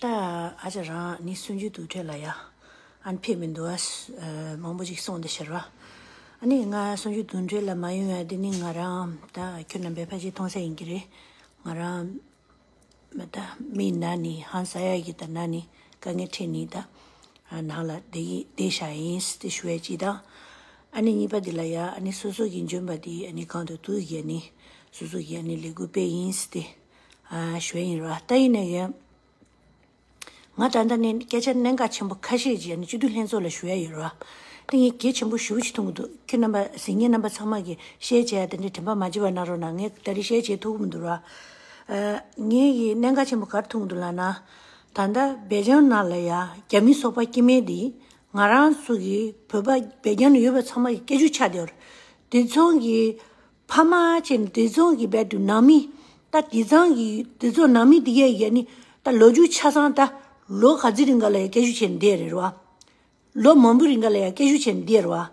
ད་ཨ་ཅག་རང་ནི་སུན་འབྱིན་དུ་ཁྲིད་ལ་ཡ། ཨན་ཕེབས་མི་འདུག་ཨས་མང་པོ་ཞིག་གསུངས་འདུག་ཟེར། ཨ་ནི་ང་སུན་འབྱིན་དུ་ཁྲིད་ལ་མ་ཡོང་ཡ་འདི་ནི་ང་རང་ད་ཁྱོད་རྣམ་པའི་ཕ་གཞིས་མཐོང་ས་ཡིན་གྱི་རེད། ང་རང་མི་ད་མི་ན་ནི་ཧང་ས་ཡ་གི་ད་ན་ནི་དཀའ་ངལ་ཁྲིད་ནི་ད་ནང་ལ་བསྡད་ཡི་བསྡད་ཤ་ཡིན་ཏེ་ཞུ་ཡ་ཅི་ད་ཨ་ནི་གཉིས་པ་འདི་ལ་ཡ་ཨ་ནི་སོ་སོ་གི་འཇོན་པ་འདི་ཨ་ནི་གང་དུ་བསྡུ་གི་ཨ་ནི་སོ་སོ་གི་ཨ་ནི་ལས་འགུལ་སྤེལ་ཡིན་ཏེ། ཞོལ་ཡིན་རོགས་ལྟ་ཡི་ནས་ཡོད། ང་དྲ་འདྲ་ནས་སྐད་ཆ་གནད་འགག་ཆེན་པོ་ཁ་ཤས་བརྗེད་ནས་སྤྱི་འཐུས་ལྷན་ཚོགས་ལ་ཞུ་ཡ་ཡོད་རོགས། དེ་གཉིས་གལ་ཆེན་པོ་ཞུ་བྱེད་ཐུག་གི་འདུག་ཁྱེད་རྣམ་པ་གཟིགས་ཉེ་རྣམ་པ་ཚང་མ་གིས་ཤེས་བྱས་ཡ་དེ་འདྲའི་དྲན་པ་མ་བརྗེད་པ་གནང་རོགས་གནང་ངས་ད་རེས་ཤེས་བྱས་ཐུག་གི་མི་འདུག་རོགས། ངས་ཡིས་གནད་འགག་ཆེན་པོ་གར་ཐུག་གི་འདུག་ལགས་ན། ད་ལྟ་སྦེལ་རྗམ་ནང་ལ་ཡ་རྒྱ་མི་སོག་པ་སྐྱེ་མེད་འདིས་ང་རང་ཚོ་གི་བོད་པ་སྦེལ་རྒྱམ་ལ་ཡོད་པ་ཚང་མ་གི་སྐད་ཆུ་ཆ་དེ་འོར། དེ་མཚུངས་གི་ཕ་མ་བྱས་ནས་དེ་ཚོང་གི་བེད་དུ་ནང་མི། ད་དེ་ཚང་གི་དེ་ཚོ་ནང་མི་དེ་གའི་ཡ་ནི་ད་ལོ་རྒྱུ་ཆ་ཚང་ད་ལོ་ག་ཚི་རིང་ག་ལ་ཡ་སྐད་ཤུག་བྱས་ནས་འདེད་རེད་རོ། ལོ་མང་པོ་རིང་ག་ལ་ཡ་སྐད་ཤུག་བྱས་ནས་འདེད་རོ།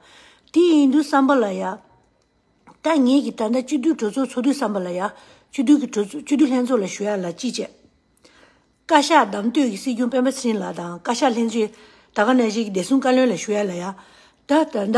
དེ་ཡིན་དུས་བསམ་པ་ལ་ཡ། ད་ངེད་ཀྱི་ད་ལྟ་སྤྱི་འཐུས་གྲོས་ཚོགས་ཚོགས་དུས་བསམ་པ་ལ་ཡ། སྤྱི་འཐུས་ཀྱི་གྲོས་སྤྱི་འཐུས་ལྷན་ཚོགས་ལ་ཞུ་ཡ་ལ་ཅི་བྱས། བཀའ་ཤག་གདམ་གཏོད་ཀྱི་སྲིད་སྐྱོང་སྤེན་པ་ཚེརིང་ལགས་དང་བཀའ་ཤག་ལྷན་ཚོགས་ད་ག་ན་བཞེས་ཀྱི་བདེ་སྲུང་བཀའ་བློན་ལ་ཞུ་ཡ་ལ་ཡ། ད་ད་ད།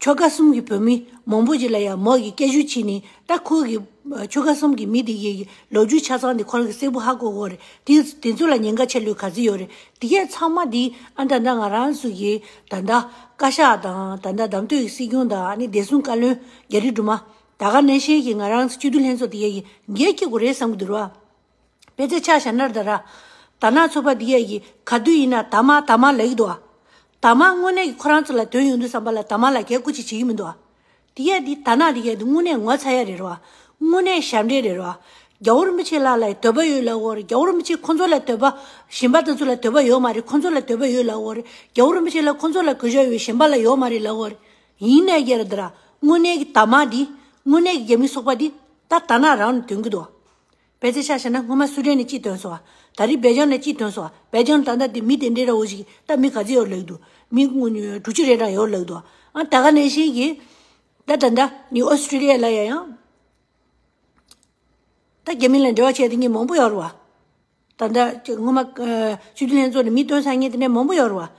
ཆོལ་ཁ་གསུམ་གྱི་བོད་མི་མང་པོ་ཞིག་ལ་ཡང་མོག་གི་སྐད་ཤུགས་ཕྱིན་ནས་ད་ཁོ་གི་ཆོལ་ཁ་གསུམ་གྱི་མི་དེ་གའི་ལོ་རྒྱུས་ཆ་ཚང་དེ་ཁོ་རང་གི་སྲས་པོ་ཧ་གོ་གོ་རེད་དེ་ཚོ་ལ་ཉེན་ཁ་ཆེ་ལོས་ག་ཚོད་ཡོད་རེད་དེ་གས་ཚང་མ་དེ་ཨ་ད་ད་ང་རང་ཚོ་གི་ད་ད་བཀའ་ཤག་དང་ད་ད་དམ་ཐོས་ཀྱི་སྲིད་སྐྱོང་དང་ཨ་ནི་བདེ་སྲུང་བཀའ་བློན་རྒྱ་རི་སྒྲུབ་མ་ད་ག་ནས་ཤེས་ཀྱི་ང་རང་ཚོ་སྤྱི་འཐུས་ལྷན་ཚོགས་དེ་གས་ཀྱི་འགས་ཀྱི་གོ་རེད་བསམ་གྱི་འདུག་ར། པེ་ཙེ་ཆ་ཤ་ནར་ད་ར། ད་ནག་ཚོ་པ་འདི་ཡ་ཡི་ག་དུས་ཡིན་ན་ད་མ་ད་མ་ལེགས་འདུག་ཨ། ད་མ་དངོས་གནས་ཀྱི་ཁོ་རང་ཚོ་ལ་དོན་ཡོང་དུས་བསམ་པ་ལ་ད་མ་ལ་གས་ཀུ་ཅིག་བྱེད་ཀྱི་མི་འདུག་ཨ། འདི་ཡ་འདི་ད་ནག་འདི་ཡ་འདི་དངོས་གནས་ངོ་ཚ་ཡ་རེད་རོ་ཨ། དངོས་གནས་ཞབས་འདྲེན་རེད་རོ་ཨ། རྒྱ་བོར་མི་ཆེ་ལགས་ལ་ཡི་དོད་པ་ཡོད་ལགས་འོ་རེད་རྒྱ་བོར་མི་ཆེ་ཁོང་ཚོ་ལ་དོད་པ། གཞན་པ་དེ་ཚོ་ལ་དོད་པ་ཡོད་མ་རེད་ཁོང་ཚོ་ལ་དོད་པ་ཡོད་ལགས་འོ་རེད་རྒྱ་བོར་མི་ཆེ་ལ་ཁོང་ཚོ་ལ་གུས་ཞབས་ཡོད་གཞན་པ་ལ་ཡོད་མ་རེད་ལགས་འོ་རེད། ཡིན་ནའི་ཡ་རེད་ད་ར། དངོས་གནས་ཀྱི་ད་མ་འདི། དངོས་གནས་ཀྱི་རྒྱ་མི་སོག་པ་འདི། ད་ད་ནག་རང་ནས་དོན་གྱི་འདུག་ཨ། བལ་ཚེ་ཤ་ཤེ་ན་སྔོན་མ་སུ་རན་ནས་ཅིས་དོན་སོང་བ། ད་རིས་བལ་རྒྱང་ནས་ཅིས་དོན་སོང་བ། བལ་རྒྱང་ད་ནད་དེ་མི་དེ་འདྲེ་ར་འོ་ཞིག་ད་མི་ག་ཚེ་ཡོར་ལེགས་འདུག་མི་དྲུག་བཅུ་རེ་འདྲ་ཡོར་ལེགས་འདུག་ཨང་ད་ག་ནས་ཤེས་ཀྱི། ད་ད་འདྲ་ནི་ཨོ་སི་ཀྲི་ལི་ཡ་ལ་ཡ་ཡང། ད་རྒྱ་མི་ལ་འབྲེལ་བ་བྱས་ཏེ་ངས་མང་པོ་ཡོར་བ། ད་ལྟ་སྔོན་མ་ཆོས་རྒྱུན་ལྷན་ཚོགས་ནས་མི་སྟོན་ས་ངས་དེ་ནས་མང་པོ་ཡོད་རེད་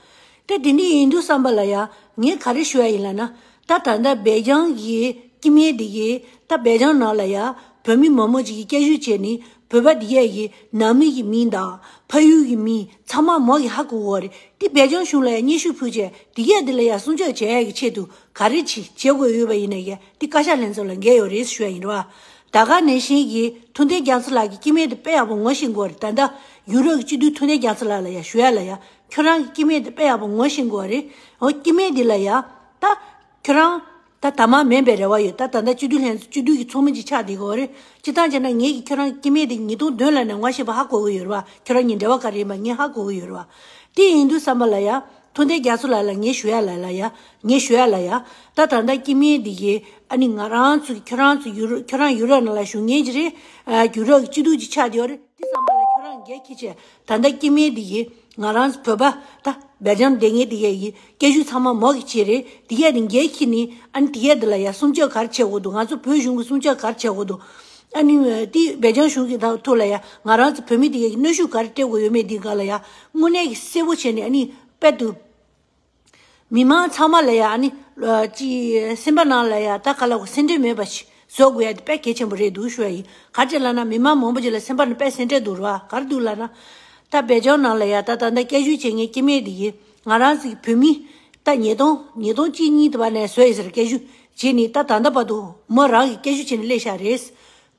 བ། དེ་དེ་འདྲ་ཡིན་འདུག་བསམ་པ་ལ་ཡང་ངས་ག་རེ་ཞུ་ཡ་ཡིན་ལ་ན། ད་ད་ལྟ་སྦེལ་རྗང་གི་ཀྱི་མེད་འདི་གི་ད་སྦེལ་རྗང་ནང་ལ་ཡང་བོད་མི་མང་མོ་ཅིག་གི་སྐྱ་བཞུ་བྱས་ནི་བོད་པ་འདི་ག་གི་ནང་མི་གི་མིང་དང་ཕ་ཡུལ་གི་མིང་ཚང་མ་མོ་གི་ཧ་གོ་གོ་རེད་དེ་སྦེལ་རྗང་གཞུང་ལ་ཡང་སྙན་ཞུ་ཕུལ་བྱས་འདི་ག་འདི་ལ་ཡང་སྲུང་སྐྱོབ་བྱས་ཡ་གི་ཆེད་དུ་ག་རེ་བྱེད་དགོས་ཡོད་བ་ཡིན་ན་ཡང་དེ་བཀའ་ཤག་ལྷན་ཚོགས་ལ་འགལ་ཡོད་རེད་ཞུ་ཡ་ཡིན་རེད་བ། ད་ག་ནས་བྱིན་གྱིས་མཐུ་ལྡན་རྒྱ་མཚོ་ལགས་ཀྱི་སྐྱིད་མེད་དུ་དཔེ་ཡག་པོ་ངོ་ཤེས་འགོ་རེད་ད་ད་ཡུ་རོབ་ཀྱི་སྤྱི་འཐུས་མཐུ་ལྡན་རྒྱ་མཚོ་ལགས་ལ་ཡ་ཞུ་ཡ་ལ་ཡ་ཁྱོད་རང་གི་སྐྱིད་མེད་དུ་དཔེ་ཡག་པོ་ངོ་ཤེས་འགོ་རེད་ཨོ་སྐྱིད་མེད་འདི་ལ་ཡ་ད་ཁྱོད་རང་ད་ད་མ་མེད་པའི་རེ་བ་ཡོད་ད་ད་ད་སྤྱི་འཐུས་ལྷན་སྤྱི་འཐུས་ཀྱི་ཚོགས་མི་ཅིག་ཆགས་འདི་གོ་རེད་སྤྱི་ཐང་བྱས་ན་ངེད་ཀྱིས་ཁྱོད་རང་གི་སྐྱིད་མེད་འདི་ཉིས་སྟོང་བདུན་ལ་ནས་ངོ་ཤེས་པ་ཧ་གོ་གི་ཡོད་རེད་བ་ཁྱོད་རང་གཉིས་འབྲེལ་བ་ག་རེ་ཡིན་པ་ངས་ཧ་གོ་གི་ཡོད་རེད་བ་དེ་ཡིན་དུས་བསམ་པ་ལ་ཡ་ཐུ་མདའི་རྒྱ་མཚོ་ལ་ལ་ངའི་ཞུ་ཡ་ལ་ལ་ཡ། ངའི་ཞུ་ཡ་ལ་ཡ། ད་ད་མདའ་སྐྱིད་མིན་འདི་གི། ཨ་ནི་ང་རང་ཚོ་ཁྱོད་རང་ཚོ་ཡུ་རོ་ཁྱོད་རང་ཡུ་རོ་ན་ལ་ཞུ་ངེས་ཀྱི་རེད། གུ་རོག་སྐྱིད་སྡུག་ཅིག་ཆགས་ཀྱི་ཡོད་རེད་དེ་བསམ་པ་ལ་ཁྱོད་རང་འགལ་ཁྱི་ཆེ། ད་མདའ་སྐྱིད་མིན་འདི་གི། ང་རང་ཚོ་བོད་པ། ད། སྦེལ་རྗམ་སྡེ་ངའི་འདི་གས་གི། སྐད་ཤུགས་ཚང་མ་མོ་གི་ཆེད་རེད། འདི་གས་ནི་འགལ་ཁྱི་ནི། ཨ་ནི་དེ་གས་འདི་ལ་ཡ་སུམ་བཅོ་གར་བྱེད་དགོས་འདུག་ང་ཚོ་བོད་གཞུང་གི་སུམ་བཅོ་གར་བྱེད་དགོས་འདུག། ཨ་ནི། དེ་སྦེལ་རྗམ་གཞུང་གི་ཐུགས་ལ་ཡ། ང་རང་ཚོ་བོད་མི་འདི་གས་གི་གནོད་ཤུགས་ག་རེ་སྤྲད་དགོས་ཡོད་མེད་འདི་ག་ལ་ཡ། དངོས་གནས་ཀྱི་གསལ་བོ་བྱས་ནས་ནི་དཔལ་དུ། མི་མང་ཚང་མ་ལ་ཡང་ནི། སེམས་པ་ནང་ལ་ཡང་དག་ག་ལ་བ་སེམས་ཁྲལ་མེད་པ་ཞིག་བཟོ་དགོས་ཡ་འདི་དཔལ་གལ་ཆེན་པོ་རེད་འདུག་ཞུ་བ་ཡིན་ག་ཅེ་ལ་ན་མི་མང་མང་པོ་ཅིག་ལ་སེམས་པ་ནི་དཔལ་སེམས་ཁྲལ་འདུག་རུ་བ་ག་རེ་འདུག་ལ་ན། ད་བད་ལྗོངས་ནང་ལ་ཡང་ད་ད་ད་སྐད་ཤུགས་ཆེ་ངས་སྐྱེ་མེད་དེ་ཡིན་ང་རང་ཟིག་བོད་མི། ད་ཉིས་སྟོང་ཉིས་སྟོང་གཅིག་གཉིས་དེ་བ་ནས་བཟོས་ཡིན་ཟེར་སྐད་ཤུགས་བྱས་ནི་ད་ད་ད་བར་དུ་མོ་རང་གི་སྐད་ཤུགས་ཆེ་ནི་སླེ་ཤག་རེད།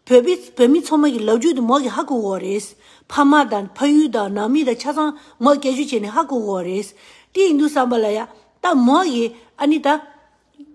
བོད་པའི་བོད་མི་ཚང་མ་གི་ལབ་རྒྱུད་དུ་མ་གི་ཧ་གོ་གོ་རེད། ཕ་མ་དང་ཕ་ཡུལ་དང་ནང་མི་དང་ཆ་ཚང་མ་སྐད་ཆུ་བྱས་ནས་ཧ་གོ་གོ་རེད། དེ་ཡིན་དུ་བསམ་པ་ལ་ཡ། ད་མ་གི་ཨ་ནི་ད།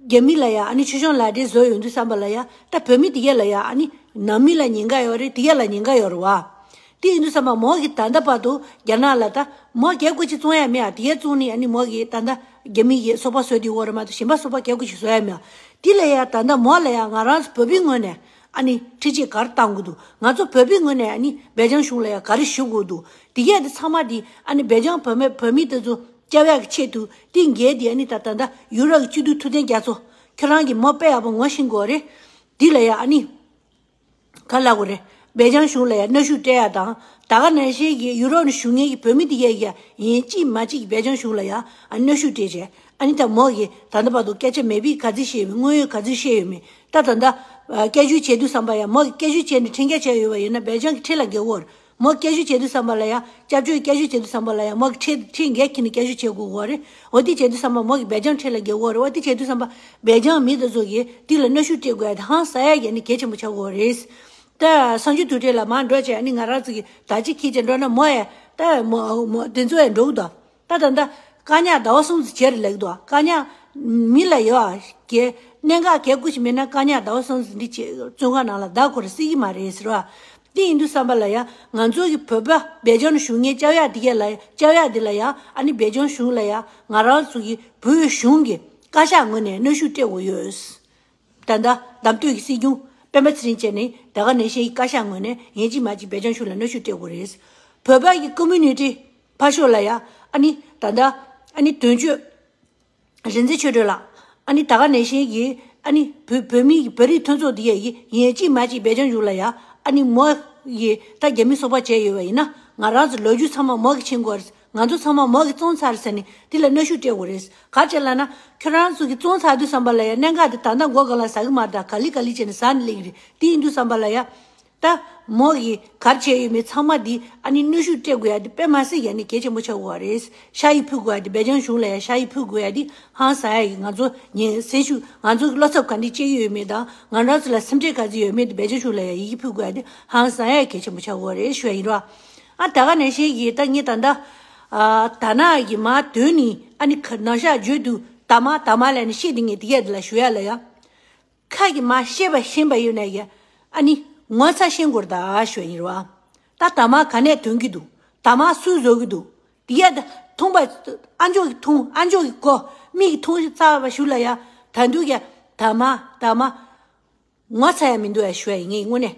རྒྱ་མི་ལ་ཡ་ཨ་ནི་ཆོས་སྐྱོང་ལ་འདྲེ་བཟོ་ཡོད་དུ་བསམ་པ་ལ་ཡ། ད་བོད་མི་དེ་ག་ལ་ཡ་ཨ་ནི་ནང་མི་ལ་ཉེན་ཁ་ཡོད་རེད་དེ་ག་ལ་ཉེན་ཁ་ཡོད་རེད་བ། དེ་ཡིན་དུ་བསམ་པ་མ་གི་ད་ད་པར་དུ་རྒྱ་ནག་ལ་ད་མ་ག་གོ་ཅི་བཙོང་ཡ་མེད་ཨ་དེ་ག་བཙོང་ནི་ཨ་ནི་མ་གི་ད་ད་རྒྱ་མི་གི་སོ་པ་བཟོ་དེ་གོ་རེད་མ་ཏོ་གཞན་པ་སོ་པ་ག་གོ་ཅི་བཟོ་ཡ་མེད་ཨ་དེ་ལ་ཡ་ད་ད་མ་ལ་ཡ་ང་རང་བོད་པའི་ངོས་ནས། ཨ་ནི་ཁྲི་ཆེ་གར་བཏང་གི་འདུག་ང་ཚོ་བོད་པའི་ངོས་ནས་ཨ་ནི་སྦེལ་ཇམ་གཞུང་ལ་ཡང་ག་རེ་ཞུ་དགོས་འདུག་དེ་གས་དེ་ཚང་མ་དེ་ཨ་ནི་སྦེལ་ཇམ་བོད་མི་དེ་ཚོ་སྐྱ་བྷས་ཀྱི་ཆེད་དུ་ཏིན་རྒྱལ་དེ་ཨ་ནི་ད་ད་ད་ཡུ་རོབ་ཀྱི་སྤྱི་འཐུས་ཐུབ་བསྟན་རྒྱ་མཚོ་ཁྱོད་རང་གི་མོ་དཔེ་ཡག་པོ་ངོ་ཤེས་དགོས་རེད་དེ་ལ་ཡང་ཨ་ནི་ག་ལ་དགོས་རེད་སྦེལ་ཇམ་གཞུང་ལ་ཡང་གནའ་ཤུལ་སྤྲད་ཡག་དང་ད་ག་ནས་ཤེས་ཀྱི་ཡུ་རོབ་ནས་ཞུ་ངེས་ཀྱི་བོད་མི་དེ་གས་ཀྱི་ཡིན་ཅིས་མ་ཅིས་ཀྱི་སྦེལ་ཇམ་གཞུང་ལ་ཡང་ཨ་ནི་གནའ་ཤུལ་སྤྲད་བྱས་ཨ་ནི་ད་མོ་གིས་ད་ད་བར་དུ་སྐད་ཆ་མེད་པས་ག་ཚོད་བཤད་ཡོད་མེད་དངོས་ཡོད་ག་ཚོད་བཤད་ཡོད་མེད་ད་ད་ལྟ། སྐད་བཞུ་བྱེད་དུས་བསམ་པ་ཡང་མོ་སྐད་བཞུ་བྱས་ནས་འཕྲིན་སྐད་བྱས་ཡོད་པ་ཡིན་ན་འབད་བྱང་གི་ཁྲི་ལ་འགེལ་འོར། མོ་སྐད་བཞུ་བྱེད་དུས་བསམ་པ་ལ་ཡང་སྐྱབས་བཅོལ་སྐད་བཞུ་བྱེད་དུས་བསམ་པ་ལ་ཡང་མོ་ཁྲི་ཁྲི་འགེལ་གྱིས་ནས་སྐད་བཞུ་བྱེད་དགོས་འོར། འོ་དེ་བྱེད་དུས་བསམ་པ་མོ་འབད་བྱང་ཁྲི་ལ་འགེལ་འོར་འོ་དེ་བྱེད་དུས་བསམ་པ། འབད་བྱང་མི་དང་ཚོགས་ཀྱིས་དེ་ལ་གནོད་ཤུགས་སྤྲད་དགོས་ཡ་དང་ས་ཡ་བརྒལ་ནས་གལ་ཆེན་པོ་ཆགས་དགོས་རེད། ད། སང་ཕྱི་དུས་དྲན་ལ་མར་འགྲོ་བྱས་ནས་ང་རང་ཚོ་གིས་ད་ཅི་ཁྱེད་ཀྱིས་འགྲོ་ན་མོ་ཡ། ད། མོ། དེ་ཚོ་ཡ་འགྲོ་གི་འདུག། ད་ལྟ་འདི་བཀའ་ཉག་ཟླ་བ་སུམ་ཅུ་བྱས་རེ་ལེགས་འདུག་བཀའ་ཉག། མི་ལ་ཡོད་ཨ། གྱེས། གནད་འགག་གས་སྐུ་ཞིག་མེད་ན་བཀའ་ཉག་ཟླ་བ་སུམ་ཅུ་འདི་བྱས་བཙོན་ཁང་ནང་ལ་བདག་ཁོ་རེ་སྲིད་ཀྱི་མ་རེད་ཟེར་བ། དེ་ཡིན་དུས་བསམ་པ་ལ་ཡང་ང་ཚོ་གི་བོད་པ་སྦེལ་ཇམ་གཞུང་ངའི་ལྕགས་ཡག་འདི་གས་ལ་ལྕགས་ཡག་འདི་ལ་ཡང་ཨ་ནི་སྦེལ་ཇམ་གཞུང་ལ་ཡང་ང་རང་ཚོ་གི་བོད་གཞུང་གི་བཀའ་ཤག་ངོས་ནས་གནོད་ཤུགས་སྤྲད་དགོས་ཡོད། ད་ལྟ་འདམ་སྟོད་ཀྱི་སྲིད་སྐྱོང་སྤེན་པ་ཚེ་རིང་བཅས་ནི་ད་ག་ནས་ཤེས་ཀྱི་བཀའ་ཤག་ངོས་ནས་ངེད་གཅིག་མ་གཅིག་བེ་ཅང་ཞུ་ལ་གནོད་ཤུགས་སྤྲད་དགོས་རེད། བོད་པ་ཡི་ཀུ་མུད་ནི་ཏི་ཕ་ཤོ་ལ་ཡ་ཨ་ནི་ད་ལྟ་ཨ་ནི་དོན་གཅོད་རིན་ཚེ་ཆོས་སྒྲོན་ལགས་ཨ་ནི་ད་ག་ནས་ཤེས་ཀྱི་ཨ་ནི་བུ་བོད་མི་ཡི་བོད་རིགས་མཐུན་ཚོགས་འདི་ཡ་ཡི་ངེད་གཅིག་མ་གཅིག་བེ་ཅང་ཞུ་ལ་ཡ་ཨ་ནི་མོ་ཡི་ད་རྒྱ་མི་གསོ་བ་བྱས་ཡོད་བ་ཡིན་ན་ང་རང་ཚོ་ལོ་རྒྱུས་ཚང་མ་མོ་གི་ཕྱིན་གོ་རེད། ང་ཚོ་ཚང་མ་མོ་གི་བཙོང་ཚར་ཟེར་ནས་དེ་ལ་གནོད་ཤུགས་སྤྲད་དགོས་རེད། ག་བྱེད་ལ་ན། ཁྱོད་རང་ཚོ་གི་བཙོང་ཚར་དུས་བསམ་པ་ལ་ཡ་གནད་འགག་དེ་ད་ལྟ་མགོ་གང་ལ་ཟ་གི་མ་རེད་ད་ག་ལི་ག་ལི་བྱས་ནས་ཟ་ནས་གླེང་གི་རེད་དེ་ཡིན་དུས་བསམ་པ་ལ་ཡ། ད། མོ་གིས་གར་བྱས་ཡོད་མེད་ཚང་མ་དེ་ཨ་ནི་གནོད་ཤུགས་སྤྲད་དགོས་ཡ་དེ་དཔེ་མ་ཟིན་ཡ་ནས་གལ་ཆེན་པོ་ཆགས་དགོས་བ་རེད། ཤ་ཡིས་ཕུད་དགོས་ཡ་དེ་སྦེ་ཅང་གཞུང་ལ་ཡ་ཤ་ཡིས་ཕུད་དགོས་ཡ་དེ་ཧང་ཟ་ཡ་ཡིན་ང་ཚོ་ཉིན་གསེང་ཤུག་ང་ཚོ་གི་བློ་འཚབ་ག་འདི་སྤྱད་ཀྱི་ཡོད་མེད་དང་ང་རང་ཚོ་ལ་སེམས་ཁྲལ་ག་ཟིག་ཡོད་མེད་དེ་སྦེ་ཅང་གཞུང་ལ་ཡ་ཡིག་གིས་ཕུད་དགོས་ཡ་དེ་ཧང་ཟ་ཡ་ཡིན་གལ་ཆེན་པོ་ཆགས་དགོས་བ་རེད་ཞུ་བ་ཡིན་རོགས། ཨ་ད་ག་ནས་ཤེས་ཀྱི་ད་ངས་ད་འདའ། ད་ནག་གི་མ་དོན་ནི་ཨ་ནི་ཁ་ནག་ཤག་བརྗོད་དུ་ད་མ་ད་མ་ལ་ནི་ཤེས་དེ་ངས་དེ་ག་ལ་ཞུ་ཡ་ལ་ཡ། ཁ་གི་མ་ཤེས་པ་ཤེས་པ་ཡོད་ན་ཡ་ཨ་ནི་ངོ་ཚ་ཤེས་འགོར་ད་ཞོ་ཡིན་རུ་ཨ། ད་ད་མ་ག་ནས་དོན་གི་འདུག་ད་མ་སུས་བཟོ་གི་འདུག་དེ་ག་ད་ཐུང་པ་ཨ་མཆོག་གི་ཐུང་ཨ་མཆོག་གི་ཀོ་མིག་གི་ཐུང་ཚ་བ་ཞུ་ལ་ཡ་ད་འདུག་ཡ་ད་མ་ད་མ་ངོ་ཚ་ཡ་མི་འདུག་ཡ་ཞུ་ཡ་ཡིན་ངས་དངོས་གནས།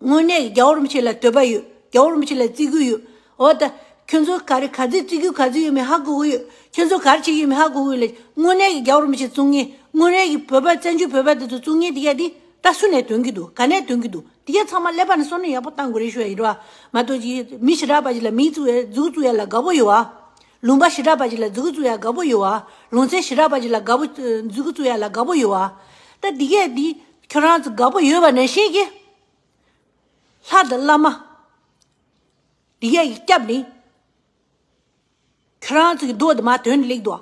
དངོས་གནས་རྒྱ་བོར་མི་བྱེད་ལ་དོད་པ་ཡོད་རྒྱ་བོར་མི་བྱེད་ལ་བརྩི་གུ་ཡོད་འོ་ད་ཁྱོད་ཚོ་ག་རེ་ག་ཚོད་བརྩི་གུ་ག་ཚོད་ཡོད་མེད་ཧ་གོ་གི་ཡོད་ཁྱོད་ཚོ་གར་བྱེད་ཀྱི་ཡོད་མེད་ཧ་གོ་གི་ཡོད་ལ་དངོས་གནས་ཀྱི་རྒྱ་བོར་མི་བྱེད་བཙུག་ངན་དངོས་རེད་ཀྱི་བོད་པ་བཙན་བྱོལ་བོད་པ་དེ་ཚོ་བཙུག་ངན་དེ་ག་དེ་ད་སུ་ནས་དོན་གྱི་འདུག་ག་ནས་དོན་གྱི་འདུག་དེ་ག་ཚང་མ་ཀླད་པ་ནས་སོ་ནས་ཡག་པོ་བཏང་དགོས་རེད་ཞུ་ཡ་ཡིན་ར་མ་གཏོགས་ཀྱི་མི་ཞི་རག་པ་ཞིག་ལ་མིང་བཙུག་ཡ་གཟུགས་བཙུག་ཡ་ལ་དགའ་པོ་ཡོད་ཨ། ལུང་པ་ཞི་དྲག་པ་ཅིག་ལ་རྫི་གུ་བཙུགས་ཡ་དགའ་པོ་ཡོད་ཨ། ལུང་ཚན་ཞི་དྲག་པ་ཅིག་ལ་དགའ་པོ། རྫི་གུ་བཙུགས་ཡ་ལ་དགའ་པོ་ཡོད་ཨ། ད་འདི་གས་འདི། ཁྱོད་རང་ཚོ་དགའ་པོ་ཡོད་པ་ནས་ཤེས་ཀྱི། ལྷ་དང་བླ་མ། འདི་གས་ཀྱི་སྐྱབས་ནི། ཁྱོད་རང་ཚོ་གི་འདོད་དུ་མ་དོན་ལེགས་འདུག་ཨ།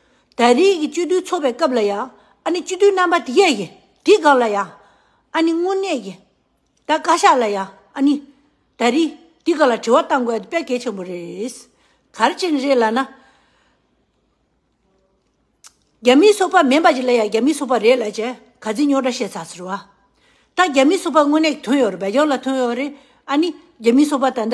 ད་རེས་ཀྱི་སྤྱི་འཐུས་ཚོགས་པའི་སྐབས་ལ་ཡང་ཨ་ནི་སྤྱི་འཐུས་རྣམ་པ་དེ་ག་གི་དེའི་སྐབས་ལ་ཡང་ཨ་ནི་དངོས་གནས་ཀྱི་ད་བཀའ་ཤག་ལ་ཡང་ཨ་ནི་ད་རེས་དེའི་སྐབས་ལ་དྲི་བ་བཏང་དགོས་ཡ་དེ་དཔེ་གལ་ཆེན་པོ་རེད། གར་ཅན་རེད་ལ་ན། རྒྱ་མིའི་ཚོགས་པ་མིན་པ་ཅིག་ལ་ཡང་རྒྱ་མིའི་ཚོགས་པ་རེད་ལ་ཅེས་ག་ཚིག་རྙོག་དྲ་བཤད་ཚར་ཟེར་བ། ད་རྒྱ་མིའི་ཚོགས་པ་དངོས་གནས་ཀྱི་དོན་ཡོད་རེད་བལ་ཡོངས་ལ་དོན་ཡོད་རེད་ཨ་ནི་རྒྱ་མིའི་ཚོགས་པ་ད་ད།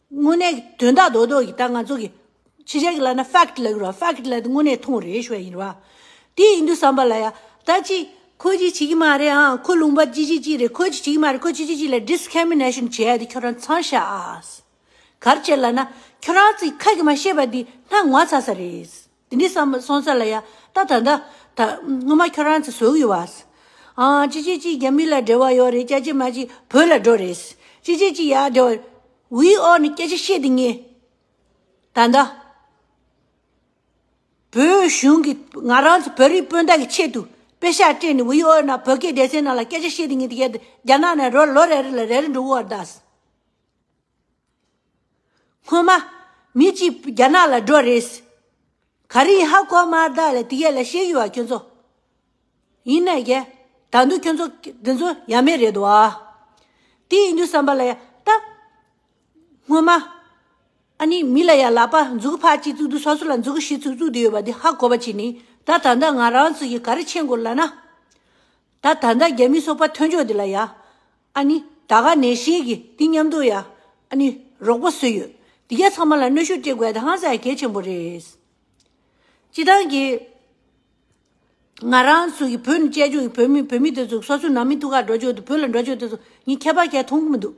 དངོས་གནས་དོན་དག་རྡོག་རྡོག་གིས་ད་ང་ཚོ་གི། ཕྱི་རྒྱལ་གི་ལ་ན fact ལ་གུ་རོ fact ལ་དངོས་གནས་མཐོང་རེད་ཞོ་ཡིན་ར་བ། དེ་ཡིན་དུས་བསམ་པ་ལ་ཡ། ད་ཅི། ཁོ་ཅི་བྱེད་ཀྱི་མ་རེད་ཨ་ཁོ་ལུང་པ་ཅི་བྱེད་ཀྱི་རེད་ཁོ་ཅི་བྱེད་ཀྱི་མ་རེད་ཁོ་ཅི་བྱེད་ཀྱི་ལ discrimination བྱེད་ཡ་དེ་ཁྱོད་རང་ཚང་ཤ་ཨཱ། གར་བྱེད་ལ་ན་ཁྱོད་རང་ཚིག་ཁ་གི་མ་བཤད་པ་དེ་སྣ་ངོ་ཚ་ས་རེད། དེ་ནས་སོང་ཚར་ལ་ཡ། ད་ད་ད། ད་སྔོན་མ་ཁྱོད་རང་ཚོ་ཟོག་ཡོད་བ། ཨང། ཅི་ཅི་ཅི་རྒྱ་མི་ལ་འབྲེལ་བ་ཡོད་རེད་སྐྱ་ཅི་མ་ཅི་བོད་ལ་འགྲོ་རེད། ཅི་ཅི་ཅི་ཡག་འབྲེལ་བ། ཝི་ཨོ་ནི་སྐད་ཆ་བཤད་དེ་ངས། ད་ད། བོད་གཞུང་གི་ང་རང་ཚོ་བོད་རིགས་སྤུན་ཟླ་གི་ཆེད་དུ་དཔེ་ཤག་སྤྲད་ནས་ཝི་ཨོ་ནང་བོད་སྐད་སྡེ་ཚན་ནང་ལ་སྐད་ཆ་བཤད་དེ་ངས་དེ་གའི་རྒྱ་ནག་ནས་རོ་ལོ་རེ་རེ་ལ་རེ་རེ་འགྲོ་འུར་བར་གདའ། སྔོན་མ། མི་གཅིག་རྒྱ་ནག་ལ་འགྲོ་རེས། ག་རེ་ཡིན་ཧ་གོ་མ་བདག་ལ་དེ་ག་ལ་བཤད་ཡོད་བ་ཁྱོད་ཚོ། ཡིན་ན་ཡ། ད་འདུག་ཁྱོད་ཚོ་འདི་ཚོ་ཡ་མེད་རེད་འདུག་ཨ། དེ་ཡིན་དུས་བསམ་པ་ལ་ཡ། ད། སྔོན་མ། ཨ་ནི་མི་ལ་ཡ་ལག་པ་འཛུགས་ཕར་གཅིག་བཙུགས་དུས་སོ་སོ་ལ་འཛུགས་གཞི་བཙུགས་བཙུགས་དེ་ཡོད་པ་དེ་ཧ་གོ་བ་གྱིས་ནི་ད་ད་ལྟ་ང་རང་ཚོ་ཡི་ག་རེ་བྱེད་དགོས་ལ་ན། ད་ད་ལྟ་རྒྱ་མི་སོག་པ་མཐོན་ཕྱོགས་དེ་ལ་ཡ། ཨ་ནི། ད་ག་ནས་ཤེས་ཀི་འདི་སྙམ་འདུག་ཡ། ཨ་ནི། རོགས་པ་སུ་ཡོད། འདི་ག་ཚང་མ་ལ་གནོད་ཤུགས་སྤྲད་དགོས་དྭངས་གསལ་གལ་ཆེན་པོ་རེད། སྤྱི་བཏང་གི། ང་རང་ཚོ་གི་བོད་ནི་བཅད་བྱུང་གི་བོད་མི་བོད་མི་དེ་ཚོ་སོ་སོའི་ནང་མི་ཐུག་ཁ་འགྲོ་ཆོག་དུ་བོད་ལ་འགྲོ་ཆོག་དེ་ཚོ་ངས་ཁྱད་པར་གལ་མཐོང་གི་མི་འདུག།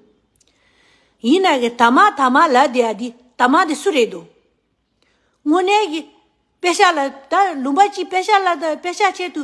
ཡིན་ན་གི་དར་མ་དར་མ་ལ་དེ་ཡ་དེ་དར་མ་དེ་སུ་རེད་དོ། དངོས་གནས་གི། དཔེ་ཤག་ལ་ད་ལུང་པ་གཅིག་དཔེ་ཤག་ལ་ད་དཔེ་ཤག་ཆེད་དུ།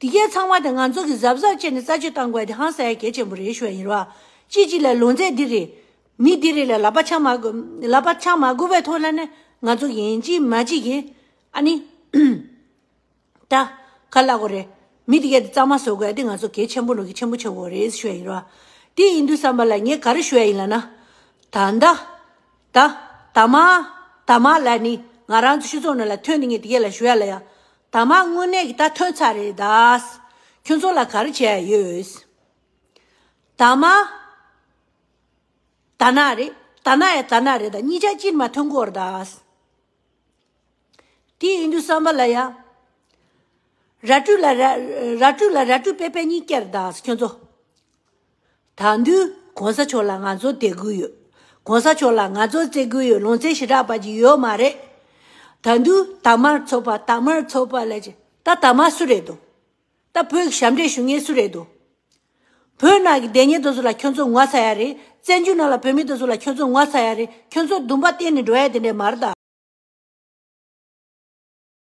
དེ་གས་ཚང་མ་དེ་ང་ཚོ་གིས་གཟབ་གཟབ་བྱས་ནས་རྩ་ཆོད་བཏང་དགོས་དེ་ཧང་སའི་གས་ཆེན་པོ་རེད་ཞུ་བ་ཡིན་རོགས་གཅིག་གཅིག་ལ་ལུང་ཚད་འདི་རེད། མི་འདི་རེད་ལ་ལབ་པ་ཆགས་མ་ལབ་པ་ཆགས་མ་དགོས་པའི་ཐོག་ལ་ནི་ང་ཚོ་ཡིན་གཅིག་མ་གཅིག་ཡིན། ཨ་ནི། ད། ཁ་བླ་གོ་རེད། མི་དེ་གས་དེ་རྩ་མ་བཟོ་དགོས་དེ་ང་ཚོ་གས་ཆེན་པོ་ལུང་གིས་ཆེན་པོ་ཆགས་དགོས་རེད་ཞུ་བ་ཡིན་རོགས། དེ་ཡིན་དུས་བསམ་པ་ལ་ངས་ག་རེ་ཞུ་བ་ཡིན་ལ་ན། ད་ཟླ། ད། ད་མ། ད་མ་ལ་ནི་ང་རང་ཚོ་ཕྱི་ཚོགས་ནང་ལ་ཐོན་དེ་ངས་དེ་གས་ལ་ཞུ་ཡ་ལ་ཡ། ད་མ་དངོས་གནས་ཀྱི་ད་ཐོན་ཚར་རེད་ད། ཁྱོད་ཚོ་ལ་ག་རེ་བྱས་ཡོད། ད་མ། ད་ནག་རེད་ད་ནག་ཡ་ད་ནག་རེད་ད་གཉིས་ཆ་གཅིག་མ་ཐོན་སྐོར་ད། དེ་ཡིན་དུས་བསམ་པ་ལ་ཡ། ར་སྤྲུལ་ལ་ར་སྤྲུལ་ལ་ར་སྤྲུལ་པས་པས་གཉིས་བསྐྱལ་ད་ཁྱོད་ཚོ། ད་དུས་གོང་ས་མཆོག་ལ་ང་ཚོ་དད་དགོས་ཡོད། གོང་ས་མཆོག་ལ་ང་ཚོ་བརྩེ་དགོས་ཡོད་ལོང་བརྩེ་ཞེ་དྲག་པ་ཅིག་ཡོད་མ་རེད། ད་དུས་དར་དམར་ཚོགས་པ་དར་དམར་ཚོགས་པ་ལས་ཀྱི་ད་དར་དམར་སུ་རེད་དོ། ད་བོད་ཀྱི་ཞབས་འདྲེན་ཞུ་མཁན་སུ་རེད་དོ། བོད་ནང་གི་བདེན་གཉེར་དོ་སོ་ལ་ཁྱོད་ཚོ་ངོ་ཚ་ཡ་རེད་བཙན་བྱོལ་ནང་ལ་བོད་མི་དོ་སོ་ལ་ཁྱོད་ཚོ་ངོ་ཚ་ཡ་རེད་ཁྱོད་ཚོ་སྡུམ་པ་བསྟེན་ནས་འགྲོ་ཡ་དེ་འདྲས་མ་རེད་ད།